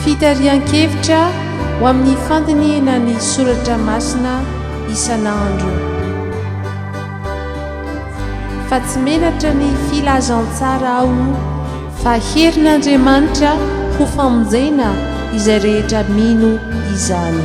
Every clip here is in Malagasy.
Fitarihan-kevitra ho amin'ny fandinihina ny soratra masina isan'andro. Fa tsy menatra ny filazantsara aho. Fa herin'Andriamanitra ho famonjena izay rehetra mino izany.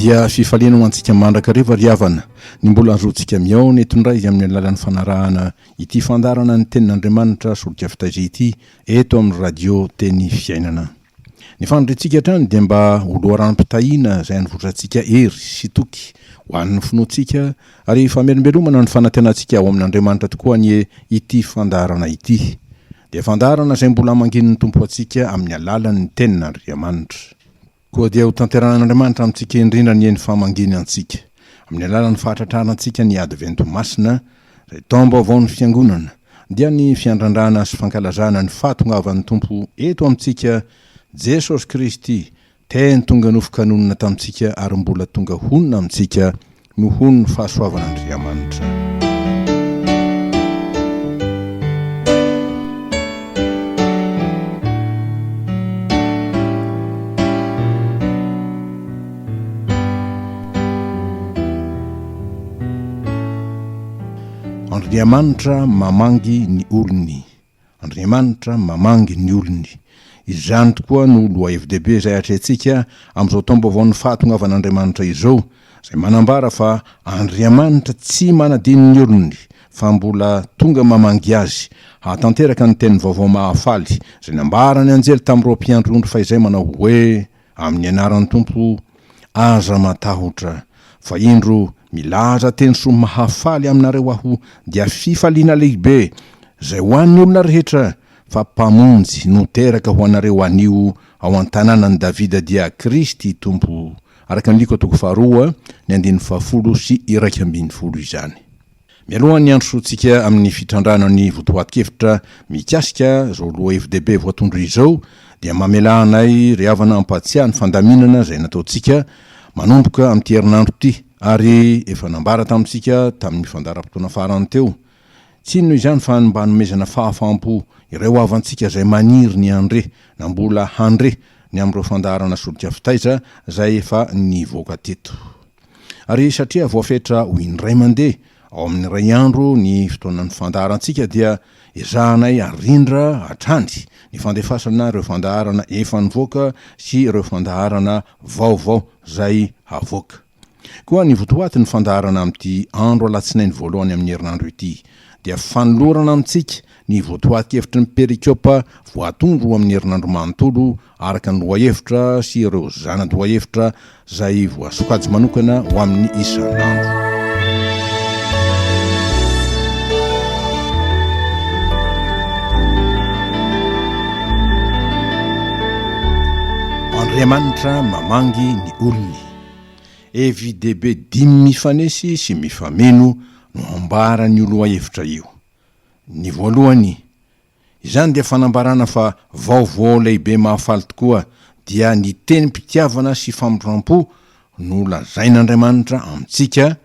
dia fifaliana ho antsika mandrakariva ry havana ny mbola azotsika mihaona eto indray izy amin'ny alalan'ny fanarahana ity fandarana ny tenin'Andriamanitra solika fitaiza ity eto amin'ny radio teny fiainana. Ny faniriantsika hatrany dia mba ho loharanom-pitahiana izay anivotrantsika hery sy toky ho an'ny finoantsika Ary famelombelomana ny fanantenantsika ao amin'Andriamanitra tokoa anie ity fandaharana ity. Dia fandaharana izay mbola hamanginin'ny Tompo antsika amin'ny alalan'ny Tenin'Andriamanitra. Koa dia hotanterahan'Andriamanitra amintsika indrindra anie ny famanginy antsika, amin'ny alalan'ny fahatratrarantsika ny Advento Masina, izay taom-baovaon'ny Fiangonana, dia ny fiandrandrana sy fankalazana ny fahatongavan'ny Tompo eto amintsika, Jesosy Kristy, Teny tonga nofoka nonina tamintsika ary mbola tonga honina amintsika nohon'ny fahasoavan'Andriamanitra. Andriamanitra mamangy ny olony. Andriamanitra mamangy ny olony. Izany tokoa no lohahevi-dehibe izay atrehintsika amin'izao taom-baovaon'ny fahatongavan'Andriamanitra izao, izay manambara fa Andriamanitra tsy manadino ny olony, fa mbola tonga mamangy azy, hahatanteraka ny teniny vaovao mahafaly, izay nambaran'ny anjely tamin'ireo mpiandry ondry fahizay manao hoe, Amin'ny anaran'ny Tompo, aza matahotra, fa indro milaza teny soa mahafaly aminareo aho, dia fifaliana lehibe, izay ho an'ny olona rehetra, fa Mpamonjy no teraka ho anareo anio ao an-tanànan'i Davida dia Kristy Tompo, araka ny Lko toko faharoa, ny andininy fahafolo sy iraika ambin'ny folo izany. Mialohan'ny hiandrosoantsika amin'ny fitrandrahana ny votoatin-kevitra mikasika izao lohahevi-dehibe voatondro izao dia mamelà anay ry havana hampahatsiahy ny fandaminana izay nataontsika manomboka amin'ity herinandro ity ary efa nambara tamintsika tamin'ny fandaharam-potoana farany teo. Tsy inona izany fa ny mba hanomezana fahafaham-po ireo havantsika izay maniry ny handre na mbola handre ny amin'ireo fandaharana solika fitaiza izay efa nivoaka teto. Ary satria voafetra ho indray mandeha ao amin'ny iray andro ny fotoanan'ny fandaharantsika dia ezahanay arindra hatrany ny fandefasana ireo fandaharana efa nivoaka sy ireo fandaharana vaovao izay havoaka. Koa ny votoatin'ny fandaharana amin'ity andro alatsinainy voalohany amin'ny herinandro ity dia fanolorana amintsika ny votoatin-kevitry ny perikopa voatondro amin'ny herinandro manontolo araka ny lohahevitra sy ireo zana-dohahevitra izay voasokajy manokana ho amin'ny isan'andro. Andriamanitra mamangy ny olony. FJDB dimy mifanesy sy mifameno no ambara an'io lohahevitra io. Ny voalohany, Izany dia fanambarana fa vaovao lehibe mahafaly tokoa dia ny tenim-pitiavana sy famindram-po no lazain'Andriamanitra amintsika,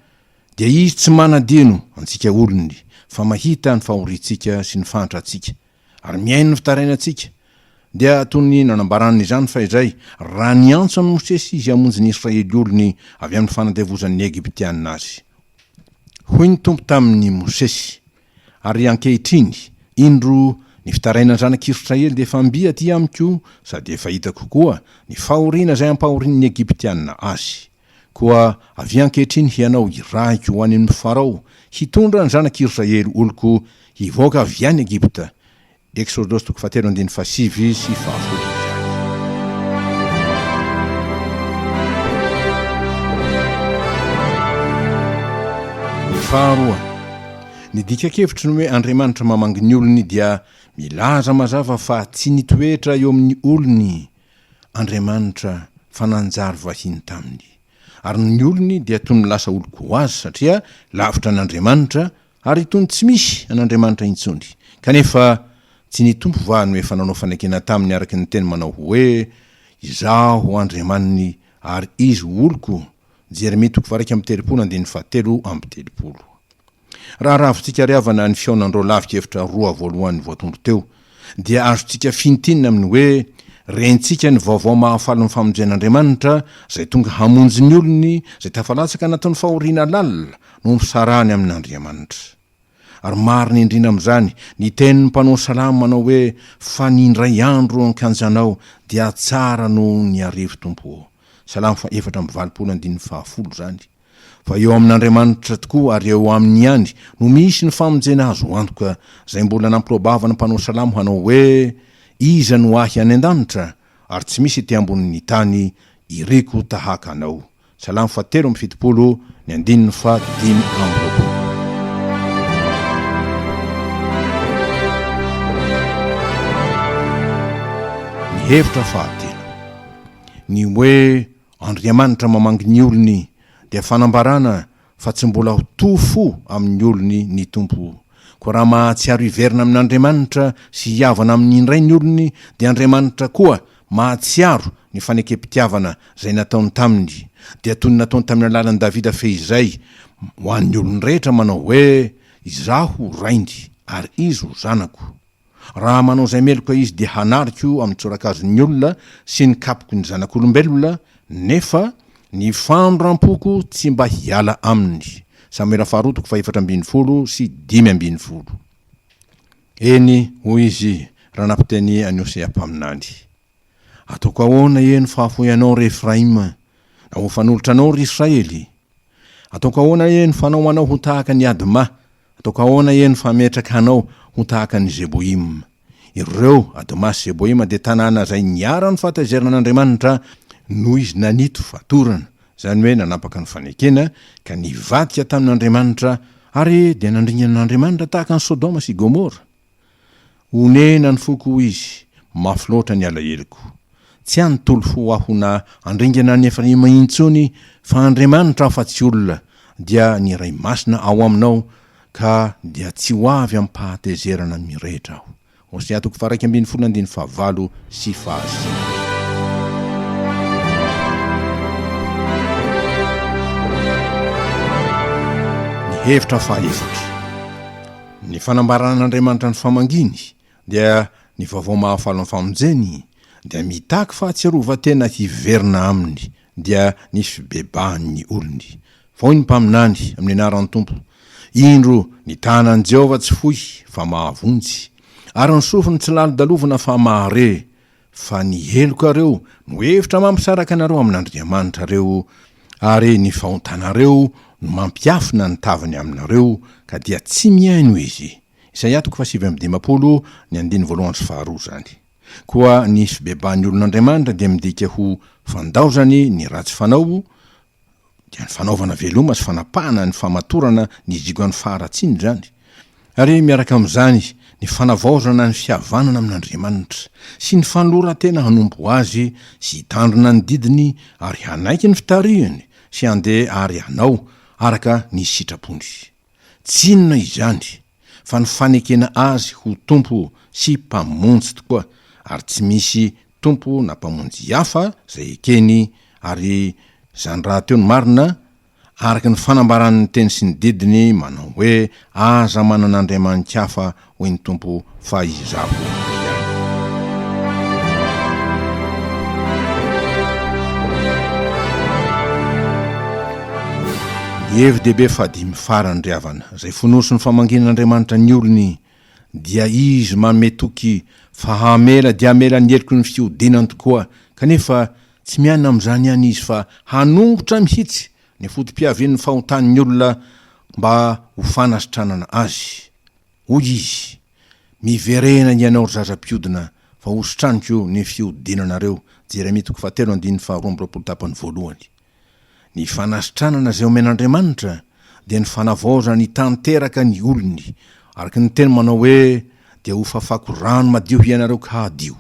dia Izy tsy manadino antsika olony, fa mahita ny fahoriantsika sy ny fahantrantsika, ary mihaino ny fitarainantsika, dia toy ny nanambarany izany fahizay, raha niantso an'i Mosesy Izy hamonjy ny Israely olony avy amin'ny fanandevozan'ny Egyptiana azy. Hoy ny Tompo tamin'i Mosesy, Ary ankehitriny, indro, ny fitarainan'ny zanak'Israely dia efa mby aty amiko, sady efa hitako koa ny fahoriana izay ampahorian'ny Egyptiana azy. Koa avia ankehitriny hianao hirahiko ho any amin'i Farao, hitondra ny zanak'Israely oloko hivoaka avy any Egypta, Eksôdôsy toko fahatelo andininy fahasivy sy fahafolo izany. Faharoa, ny dika-kevitry ny hoe Andriamanitra mamangy ny olony dia milaza mazava fa tsy nitoetra eo amin'ny olony Andriamanitra fa nanjary vahiny taminy, ary ny olony dia toy ny lasa olon-ko azy satria lavitra an'Andriamanitra, Ary itony tsy misy an'Andriamanitra intsony. Kanefa tsy ny Tompo va no efa nanao fanekena taminy araka ny teny manao hoe, Izaho Andriamaniny ary izy ho oloko, Jeremia toko varaika amby telopolo andininy fahatelo amby telopolo. Raha ravintsika ary havana ny fihaonan'ireo lavi-kevitra roa voalohany voatondro teo, dia azontsika fintinina amin'ny hoe rentsika ny vaovao mahafaly ny famonjen'Andriamanitra izay tonga hamonjy ny olony izay tafalatsaka anatin'ny fahoriana lalina no misarahany amin'Andriamanitra. Ary marina indrindra amin'izany ny tenin'ny mpanao salamo manao hoe fa ny indray andro eo an-kianjanao dia tsara noho ny arivo Tompo ô. Salamo faha efatra amby valopolo andininy faha folo izany. Fa eo amin'Andriamanitra tokoa ary eo Aminy ihany no misy ny famonjena azo antoka, izay mbola nampiroabava ny mpanao salamo hanao hoe, Iza no ahy any an-danitra? ary tsy misy ety ambonin'ny tany iriko tahaka Anao. Salamo fahatelo amby fitopolo, ny andininy fahadimy amby roapolo. Ny hevitra fahatelo, ny hoe Andriamanitra mamangy ny olony dia fanambarana fa tsy mbola ho toa fo amin'ny olony ny Tompo. Koa raha mahatsiaro hiverina amin'Andriamanitra sy hihavana aminy indray ny olony dia Andriamanitra koa mahatsiaro ny fanekempitiavana izay nataony taminy dia toy ny nataony tamin'ny alalan'i Davida fehizay ho an'ny olony rehetra manao hoe, Izaho ho rainy ary izy ho zanako. Raha manao izay meloka izy dia hanariko amin'ny tsorakazon'ny olona sy ny kapoko ny zanak'olombelona, nefa ny fandram-poko tsy mba hiala aminy. Samoela faharoa toko fahefatra ambin'ny folo sy dimy ambin'ny folo. Eny, hoy izy, raha nampiteny an'i Hosea mpaminany. Ataoko ahoana ee no fahafoy anao ry Efraima, na ho fanolotra anao ry Israely? Ataoko ahoana ee no fanao anao ho tahaka an'i Adma, ataoko ahoana ee no fametraka anao ho tahaka an'i Zeboima? Ireo, Adma sy Zeboima, dia tanàna izay niharan' ny fahatezeran' Andriamanitra noho izy nanito fatorana, izany hoe nanapaka ny fanekena, ka nivadika tamin' Andriamanitra, ary dia nandringana an' Andriamanitra tahaka an'i Sodoma sy Gomora. Onena ny foko hoy izy, mafy loatra ny alaheloko. Tsy hanontolo fo aho na handringana an'i Efraima intsony, fa Andriamanitra aho fa tsy olona, dia ny Iray Masina ao aminao, ka dia tsy ho avy amim-pahatezerana mirehitra aho. Hosea toko faha-iraika ambin'ny folo andininy fahavalo sy fahasivy. Ny hevitra fahaefatra. Ny fanambaran'Andriamanitra ny famanginy, dia ny vaovao mahafaly ny famonjeny, dia mitaky fahatsiarovan-tena hiverina Aminy, dia ny fibebahan'ny olony. Hoy ny mpaminany, Amin'ny anaran'ny Tompo. Indro, ny tanan'i Jehovah tsy fohy, fa mahavonjy, ary ny sofiny tsy lalodalovina, fa mahare. Fa ny helokareo no hevitra mampisaraka anareo amin'Andriamanitra reo, ary ny fahontanareo no mampiafina ny taviny aminareo, ka dia tsy mihaino izy. Isaia toko fahasivy amby dimampolo, ny andininy voalohany sy faharoa izany. Koa ny fibebahan'ny olon'Andriamanitra dia midika ho fandaozany ny ratsy fanao, dia ny fanaovana veloma sy fanapahana ny famatorana ny diogan'ny faharatsiana izany, ary miaraka amin'izany ny fanavaozana ny fihavanana amin'Andriamanitra, sy ny fanoloran-tena hanompo Azy sy hitandrina ny didiny ary hanaiky ny fitarihiny sy handeha àry hanao araka ny sitrapony. Tsy inona izany fa ny fanekena Azy ho Tompo sy Mpamonjy tokoa, ary tsy misy Tompo na Mpamonjy hafa izay ekeny, ary izany rahateo no marina, araka ny fanambaran'ny Teny sy ny Didiny manao hoe, Aza manana andriamani-kafa hoy ny Tompo fa Izaho ihany. Ny hevi-dehibe fahadimy farany, ry havana, izay fonosin'ny famangian'Andriamanitra ny olony dia Izy manome toky fa hamela dia hamela ny heloky ny fihodinany tokoa, kanefa tsy miaina amin'izany ihany Izy fa hanongotra mihitsy ny foto-piavian'ny fahotan'ny olona mba ho fanasitranana azy. Hoy izy, Miverena hianao ry zaza mpiodina, fa hositraniko ny fiodinanareo. Jeremia toko fahatelo andininy faharoa amby roapolo tapany voalohany. Ny fanasitranana izay omen'Andriamanitra dia ny fanavaozany hitanteraka ny olony, araka ny teny manao hoe, Dia hofafako rano madio hianareo ka hadio.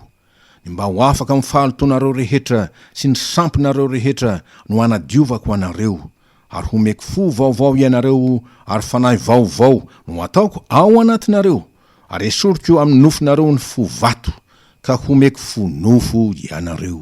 Ny mba ho afaka amin'ny fahalotoanareo rehetra sy ny sampinareo rehetra no hanadiovako anareo, Ary homeko fo vaovao ianareo, ary fanahy vaovao no hataoko ao anatinareo, ary hesoriko amin'ny nofonareo ny fo vato, ka homeko fo nofo ianareo.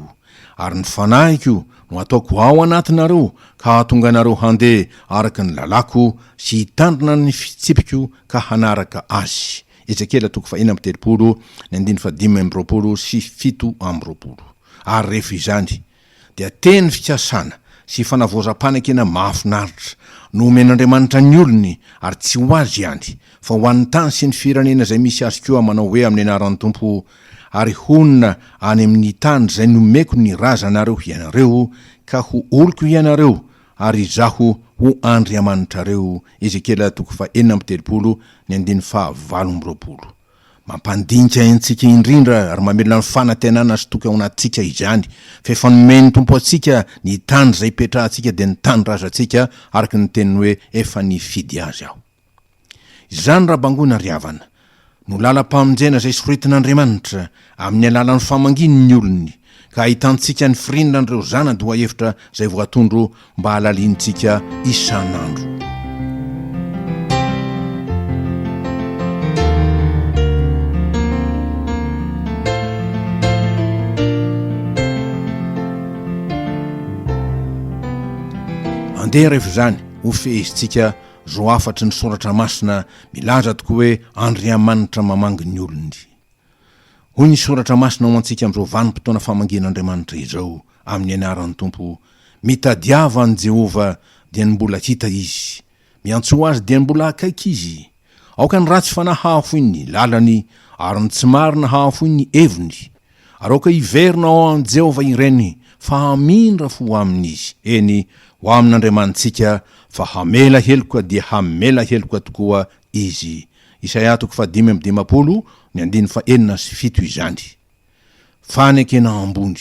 Ary ny fanahiko no hataoko ao anatinareo, ka hahatonga anareo handeha araka ny lalàko, sy hitandrina ny fitsipiko ka hanaraka azy. Ezekiela toko fahenina amby telopolo, ny andininy fahadimy amby roapolo sy fito amby roapolo. Ary rehefa izany, Dia teny fikasana sy fanavaozam-panekena mahafinaritra no omen'Andriamanitra ny olony ary tsy ho azy ihany fa ho an'ny tany sy ny firenena izay misy azy koa manao hoe amin'ny anaran'ny Tompo ary honina any amin'ny tany izay nomeko ny razanareo hianareo ka ho oloko hianareo ary izaho ho Andriamanitrareo Ezekiela toko fahenina amby telopolo ny andininy faha valo amby roapolo Mampandinika antsika indrindra ary mamelona ny fanantenana sy toky ao anatintsika izany, fa efa nomen'ny Tompo antsika ny tany izay hipetrahantsika dia ny tanindrazantsika, araka ny teniny hoe efa nifidy azy aho. Izany raha bangoina ry havana, no lalam-pamonjena izay soritin'Andriamanitra, Amin'ny alalan'ny famanginy ny olony ka ahitantsika ny firinran'ireo zana-dohahevitra izay voatondro mba halalinintsika isan'andro. Andeha rehefa izany ho fehezintsika izao hafatry ny soratra masina milaza tokoa hoe Andriamanitra mamangy ny olony. Hoy ny Soratra Masina ho antsika amin'izao vanim-potoana famangian'Andriamanitra izao, amin'ny anaran'ny Tompo, Mitadiava an'i Jehovah, dia ny mbola hita izy, miantsoa azy, dia ny mbola akaiky izy. Aoka ny ratsy fanahy hahafoy ny lalany, ary ny tsy marina hahafoy ny heviny, ary aoka hiverina ao amin'i Jehovah ireny, fa hamindra fo ho aminy izy, eny, ho amin'Andriamanitsika, fa hamela heloka dia hamela heloka tokoa izy. Isaia toko fahadimy amby dimampolo, ny andininy fahenina sy fito izany. Fanekena ambony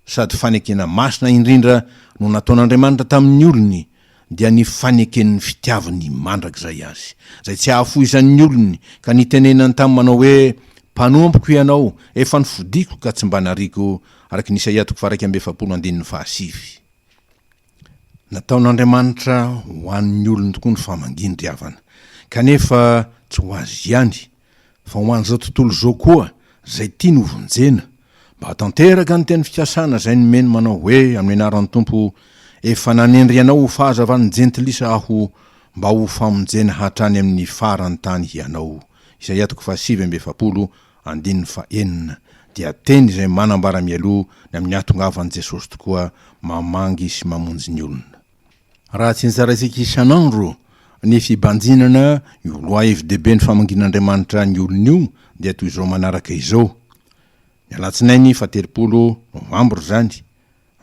sady fanekena masina indrindra no nataon'Andriamanitra tamin'ny olony, dia ny faneken'ny fitiavany mandrakizay azy, izay tsy hahafoizan'ny olony, ka nitenenany tamin'ny manao hoe, Mpanompoko Hianao, efa nofidiko ka tsy mba nariako, araka ny Isaia toko faha-iraika amby efapolo andininy fahasivy. Nataon'Andriamanitra ho an'ny olony tokoa ny famangin-dry havana, kanefa tsy ho azy ihany, fa ho an'izao tontolo izao koa izay tiany hovonjena, mba hahatanteraka ny teny fikasana izay nomeny manao hoe, amin'ny anaran'ny Tompo, efa nanendry anao ho fahazavan'ny jentilisa aho, mba ho famonjena hatrany amin'ny faran'ny tany hianao. Isaia toko fahasivy amby efapolo Andininy fahenina, dia teny izay manambara mialoha ny amin'ny hahatongavan'i Jesosy tokoa mamangy sy mamonjy ny olona. Raha tsy nitsaraintsika isan'andro ny fibanjinana io lohahevi-dehiben'ny famangian'Andriamanitra ny olony io dia toy izao manaraka izao, ny alatsinainy faha-telopolo novambra izany,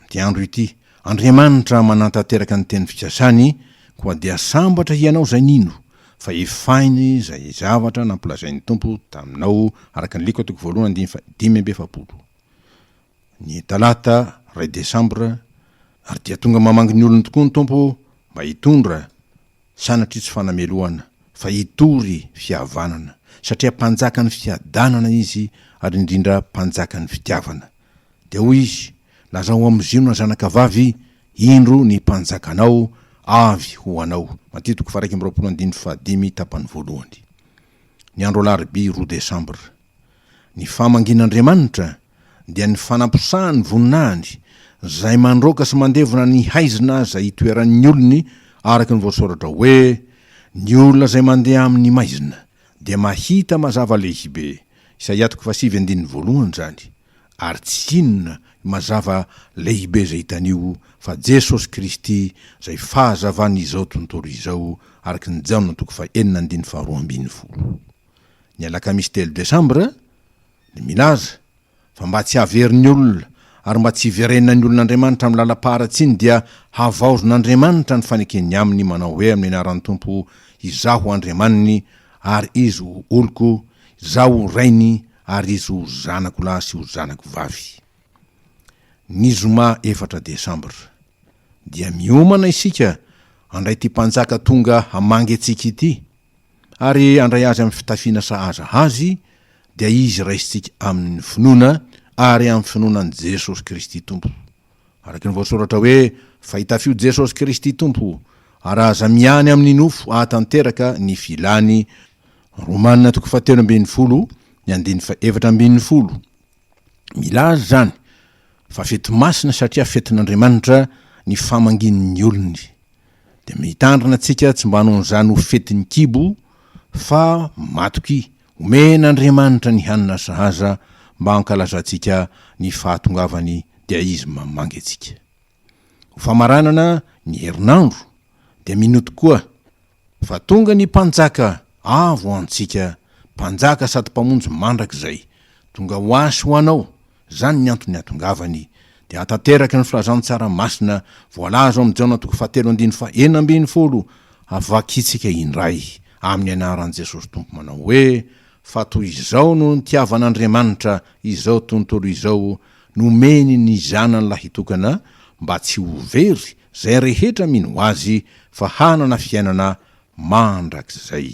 Ity andro ity, Andriamanitra manantanteraka ny teny fikasany, koa dia sambatra hianao izay nino, fa efainy izay zavatra nampolazain'ny Tompo taminao araka ny Lko toko voalohany andininy faha dimy amby efapolo, ny talata iray desambra, ary dia tonga mamangy ny olony tokoa ny Tompo mba hitondra, sanatria tsy fanamelohana, fa hitory fihavanana, satria Mpanjakan'ny fiadanana Izy, ary indrindra Mpanjakan'ny fitiavana. Dia hoy izy, Lazao amin'i Ziona zanakavavy, Indro ny mpanjakanao avy ho anao. Matitiko faharaika amby roapolo andininy fahadimy tapany voalohany. Ny andro alarobia roa desambra. Ny famangian'Andriamanitra dia ny fanaposahan'ny voninahiny izay mandroaka sy mandevona ny haizina izay itoeran'ny olony araka ny voasoratra hoe, Ny olona izay mandeha amin'ny maizina, dia mahita mazava lehibe Isaia toko fahasivy andininy voalohany izany, ary tsy inona io mazava lehibe izay hitany io fa Jesosy Kristy izay fahazavan'izao tontolo izao araka ny Jaona toko fahenina andininy faharoa ambin'ny folo. Ny alakamisy telo desambra, ny milaza, fa mba tsy haverin'ny olona ary mba tsy hiverenan'ny olona Andriamanitra amin'ny lalam-paharatsiany dia havaozin' Andriamanitra ny faneken'ny aminy manao hoe amin'ny anaran'ny Tompo Izaho ho Andriamaniny ary izy ho oloko, Izaho ho Rainy ary izy ho zanako lahy sy ho zanako vavy. Ny zoma efatra desambra dia miomana isika handray ity Mpanjaka tonga hamangy antsika ity. ary handray azy amin'ny fitafiana sahaza azy, dia izy raisintsika amin'ny finoana ary amin'ny finoana an'i Jesosy Kristy Tompo. Araka ny voasoratra hoe, Fa itafio Jesosy Kristy Tompo, ary aza miany amin'ny nofo hahatanteraka ny filany. Romana toko fahatelo ambin'ny folo, ny andininy fahefatra ambin'ny folo. Milaza izany fa fety masina satria fetin'Andriamanitra ny famangian'ny olony. Dia mitandrina tsika tsy mba hanao an'izany ho fetin'ny kibo fa matoky omen'Andriamanitra ny hanina sahaza mba hankalazantsika ny fahatongavany dia Izy mamangy antsika. Ho famaranana ny herinandro dia mino tokoa fa tonga ny Mpanjaka avo ho antsika, Mpanjaka sady Mpamonjy mandrakizay. Tonga ho asy ho anao Izany ny antony nihatongavany. Dia hahatanteraka ny filazantsara masina voalaza ao amin'ny Jaona toko fahatelo andininy faha enina ambin'ny folo, havakintsika indray, amin'ny anaran'i Jesosy Tompo manao hoe, Fa toy izao no nitiavan'Andriamanitra izao tontolo izao, nomeny ny Zanany lahitokana, mba tsy ho very izay rehetra mino Azy, fa hanana fiainana mandrakizay.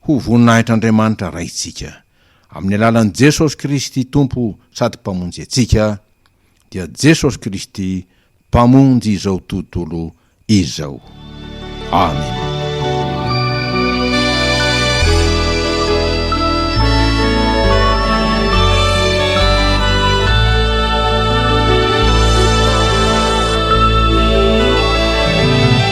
Ho voninahitr'Andriamanitra Raintsika. Amin'ny alalan'i Jesosy Kristy Tompo sady Mpamonjy antsika, dia Jesosy Kristy Mpamonjy izao tontolo izao. Amena.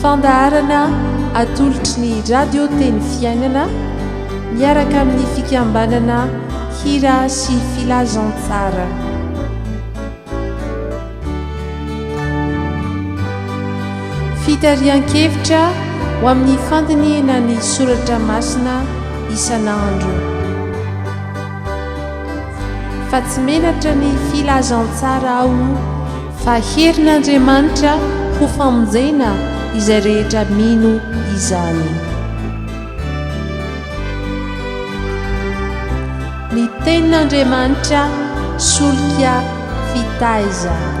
Fandaharana atolotry ny Radio Teny Fiainana miaraka amin'ny fikambanana Hira sy Filazantsara. Fitarihan-kevitra ho amin'ny fandinihana ny soratra masina isan'andro. Fa tsy menatra ny filazantsara aho Fa herin'Andriamanitra ho famonjena izay rehetra mino izany. Ny Tenin'Andriamanitra solika fitaizana.